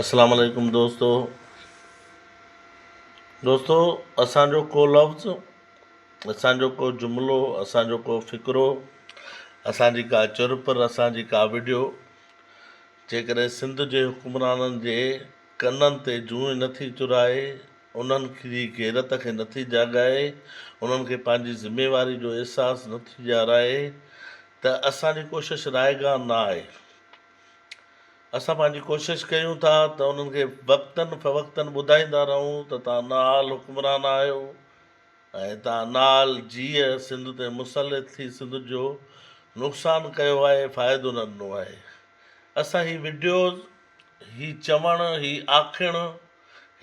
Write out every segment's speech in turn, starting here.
اسلام عليڪم دوستو دوستو اسان جو ڪو لفظ اسان جو ڪو جملو اسان جو ڪو فقرو اسان جي ڪا چرپر اسان جي ڪا وڊيو جيڪڏهن سنڌ جي حڪمرانن جي ڪنن تي جونء نه ٿي چرائي انهن جي غيرت کي نه ٿي جاڳائي انهن کي پنهنجي ذميواري جو احساس نه ٿي ڏيارائي ته اسان جي ڪوشش رائگان نه آهي. اسان پنهنجي ڪوشش ڪيون ٿا ته انهن کي وقتن فوقتن ٻڌائيندا رهون ته توهان نااهل حڪمران آهيو ۽ توهان نااهل جيء سنڌ تي مسلط ٿي سنڌ جو نقصان ڪيو آهي فائدو نه ڏنو آهي اسان هي وڊيوز هي چوڻ هي آکڻ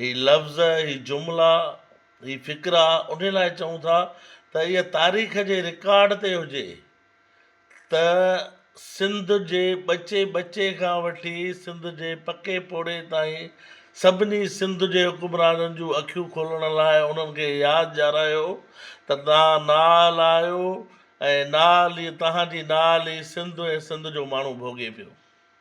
هي لفظ هي جملا هي فڪر آ انهي لاء چئون ٿا ته اها تاريخ جي رڪارڊ تي هجي ته سنڌ جي ٻچي ٻچي کان وٺي سنڌ جي پڪي پوڙهي تائين سڀني سنڌ جي حڪمرانن جون اکيون کولڻ لاء انهن کي ياد ڏيارايو ته توهان نال آهيو ۽ نال ئي توهان جي نال ئي سنڌ ۽ سنڌ جو ماڻهو ڀوڳي پيو.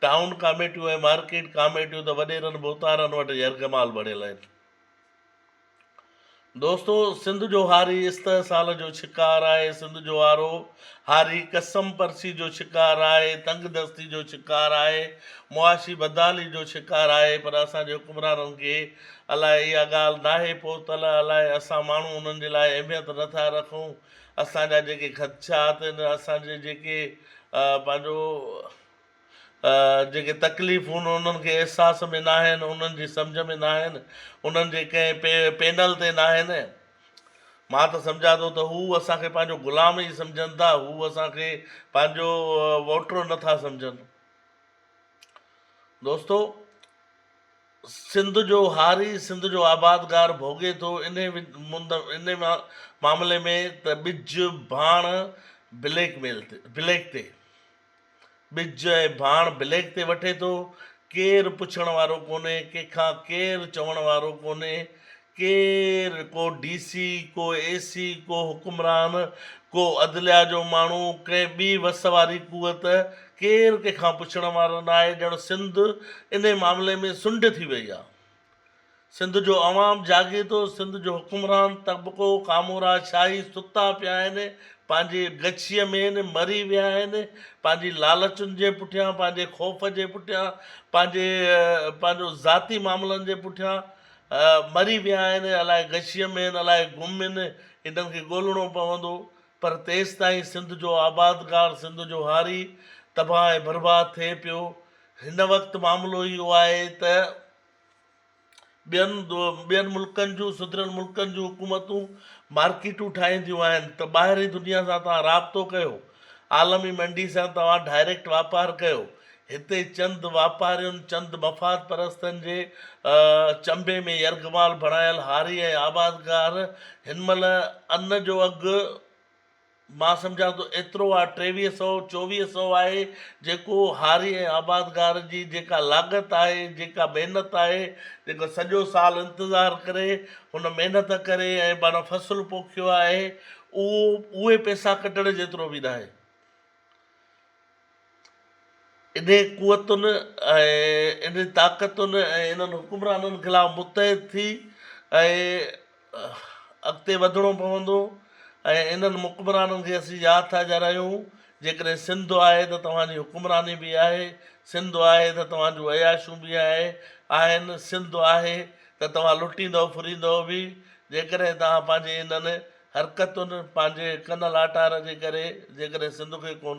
ٽائون ڪاميٽيون ۽ مارڪيٽ ڪاميٽيون ته وڏيرن ڀوتارن وٽ يرغمال بڻيل آهن. دوستو! سنڌ جو هاري استحصال جو شڪار آهي، سنڌ جو هارو هاري قسم پرسي جو شڪار آهي، تنگ دستي جو شڪار آهي، معاشي بدحالي جو شڪار آهي پر اسان جي حڪمرانن کي الاء اها ڳالهه ناهي پهتل الاء اسان ماڻهو انهن جي لاء اهميت نٿا رکون اسان جا جيڪي خدشات ۽ اسان جي جيڪي پنهنجو جيڪي تڪليفون انهن کي احساس ۾ ناهن، انهن جي سمجهه ۾ ناهن، انهن جي ڪنهن پينل تي ناهن. مان ته سمجهان ٿو ته هو اسان کي پنهنجو غلام ئي سمجهن ٿا، هو اسان کي پنهنجو ووٽر نه ٿا سمجهن. دوستو! سنڌ جو هاري سنڌ جو آبادگار ڀوڳي ٿو انهي معاملي ۾ ته ٻج ڀاڻ بليڪ ميل تي بليڪ تي ٻج ۽ ڀاڻ بليڪ تي وٺي ٿو ڪير پڇڻ وارو ڪونهي ڪنهن کان ڪير چوڻ وارو ڪونهي ڪير، ڪو ڊي سي، ڪو اي سي، ڪو حڪمران، ڪو عدليا جو ماڻهو، ڪنهن ٻي وس واري قوت، ڪير ڪنهن کان پڇڻ وارو ناهي، ڄڻ سنڌ انهي معاملي ۾ سنڍ ٿي وئي آ. سنڌ جو عوام جاڳي ٿو، سنڌ جو حڪمران طبقو، ڪامورا شاهي ستا پيا آهن، پنهنجي ڳچيء ۾، مري ويا آهن، پنهنجي لالچن جي پٺيان، پنهنجي خوف جي پٺيان، پنهنجي پنهنجو ذاتي معاملن جي پٺيان، مري ويا آهن، الاء غشيء ۾ آهن، الاء گم آهن، انهن کي ڳولڻو پوندو، پر تيستائين سنڌ جو آبادگار، سنڌ جو هاري تباهه ۽ برباد ٿئي پيو. هن وقت معاملو اهو آهي ته ٻين ملڪن جون، سڌريل ملڪن جون حڪومتون مارڪيٽون ٺاهينديون آهن ته ٻاهرين دنيا سان توهان رابطو ڪيو، عالمي منڊي سان توهان ڊائريڪٽ واپار ڪيو، هتي چند واپارين، چند مفاد پرستن جي چنبي ۾ يرغمال بڻايل هاري ۽ آبادگار هن مهل ان جو اگهه مان سمجهان ٿو ايترو آهي ٽيويهه سئو، چوويهه سئو آهي جيڪو هاري ۽ آبادگار جي جيڪا لاڳت آهي، جيڪا محنت آهي، جيڪو سڄو سال انتظار ڪري، هن محنت ڪري ۽ پاڻ فصل پوکيو آهي، اهو اهي پئسا ڪڍڻ جيترو به ناهي. انهن قوتن ۽ انهن طاقتن ۽ انهن حڪمرانن خلاف متحد ٿي اڳتي وڌڻو پوندو ۽ انهن مڪمرانن کي اسين ياد ٿا ڄرايون جيڪڏهن سنڌ آهي ته توهان جي حڪمراني به آهي سنڌ آهي ته توهان جون عياشون به آهي آهن سنڌ آهي ته توهان لٽيندؤ ڦريندؤ به جيڪڏهن توهان پنهنجي انهن حرڪتن پنهنجي ڪن لاٽار جي ڪري جيڪڏهن سنڌ کي ڪون.